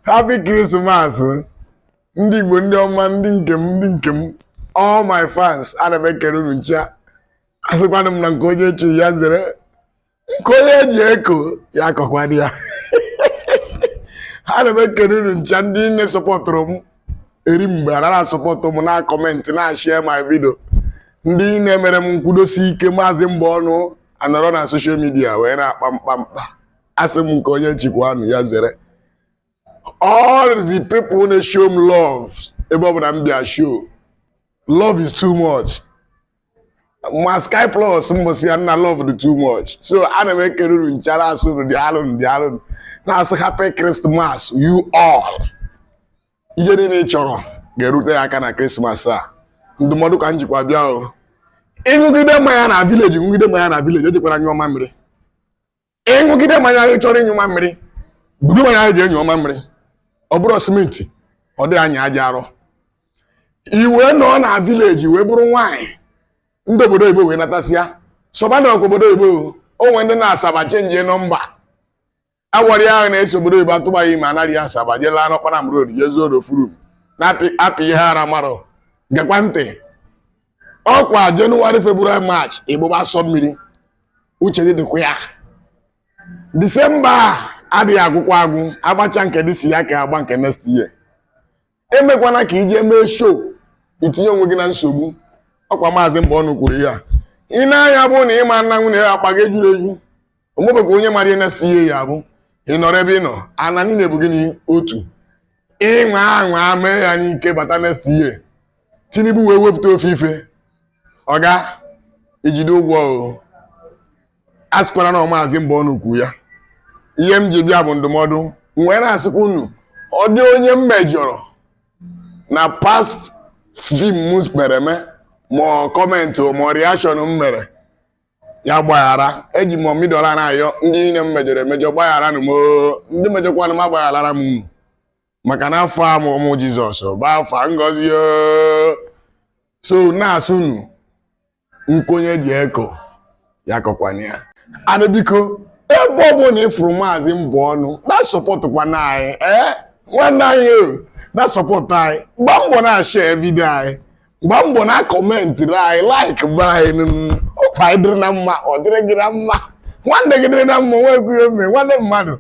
happy Christmas ndị Igbo ndị ọma ndị nke m ndị nke m all my fans ana m ekere unu ncha asịkwanụ m na nke onye chi ya zere nke onye ji eko ya akọkwana ya ana m ekere unu ncha ndị niile sọpọtụrụ m eri mgbe anara asọpọtụ m na-akọmentị na-ashịa my video ndị na-emere m nkwudosi ike maazị mgbe ọnụ anọrọ na social media wee na-akpa mkpamkpa asị m nke onye chikwanụ ya zere all the people na-show m love ebe ọ bụla m bịa show love is too much ma sky plus mbọsị ya nna love dị too much so ana m ekere unu ncha na-asị unu daalụnụ daalụnụ na-asị happy christmas you all ihe niile ị chọrọ ga-erute gị aka na krismas a ndụmọdụ ka m jikwa bịa o ị ṅụgide mmanya na village ṅụgide mmanya na village ejekwana nyụọ mamịrị ị ṅụgide mmanya ị chọrọ ịnyụ mamịrị budo mmanya gị jee nyụọ mamịrị ọ bụrọ simenti ọ dịghị anyị aja arọ i wee nọọ na village wee bụrụ nwaanyị ndị obodo oyibo wee natasịa soba nwoke obodo oyibo o nwere ndị nọ Asaba chenjie nọmba a gwara gị na e si obodo oyibo atụba gị ime anarị Asaba jee laa n'Okpanam road jee zuo n'ofu room na-apị ihe ara marọ gekwa ntị ọkwa jenụwarị febrụwarị maachị ị gbụba asọ mmiri uche gị dịkwa ya disemba a adịghị agwụkwa agwụ agbacha nke this year ka agba nke next year emekwana ka i jee mee show i tinye onwe gị na nsogbu ọkwa maazị mgbe ọnụ kwuru ya ị na-anya bụ na ị ma na nwanne akpa gị ejurọ eju omebekwa onye mara ihe next year ya bụ ị nọrọ ebe ị nọ ana niile bụ gịnị otu ị nwaa anwa mee ya n'ike bata next year tinubu wee wepụta ofu ife ọga i jide ụgwọ o a sịkwara na ọ maazị mgbe ọnụ kwuru ya ihe m ji bịa bụ ndụmọdụ m wee na-asịkwa unu ọ dị onye m mejọrọ na past film m mere eme ma ọ kọmentị ma ọ reaction m mere ya gbaghara eji m ọmịdọla na-ayọ ndị niile m mejọrọ emejọ gbaghara nụ m oo. ndị mejọkwanụ m agbagharara m unu maka na afọ ọmụmụ jizọs bụ afọ ngozi oo. so na-asị unu nke onye ji eko ya akọkwana ya and biko ebe ọ bụla ị fụrụ maazị mgbe ọnụ na-asọpọtụkwanụ anyị ee nwanne anyị o na-asọpọtụ anyị gbaa mbọ na-ashịa video anyị gbaa mbọ na-akọmentịrị anyị like be anyị nụnụ ọkwa anyị dịrị na mma ọ dịrị gị na mma nwanne gị dịrị na mma nwekwu ihe mee nwanne mmadụ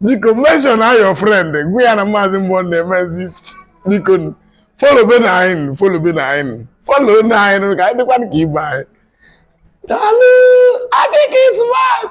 biko mention a your friend gwa ya na maazị mgbọ na-emezi biko followbenụ anyị followbenụ anyị follownụ anyị ka anyị dịkwa ka ibe anyị daalụ happy christmas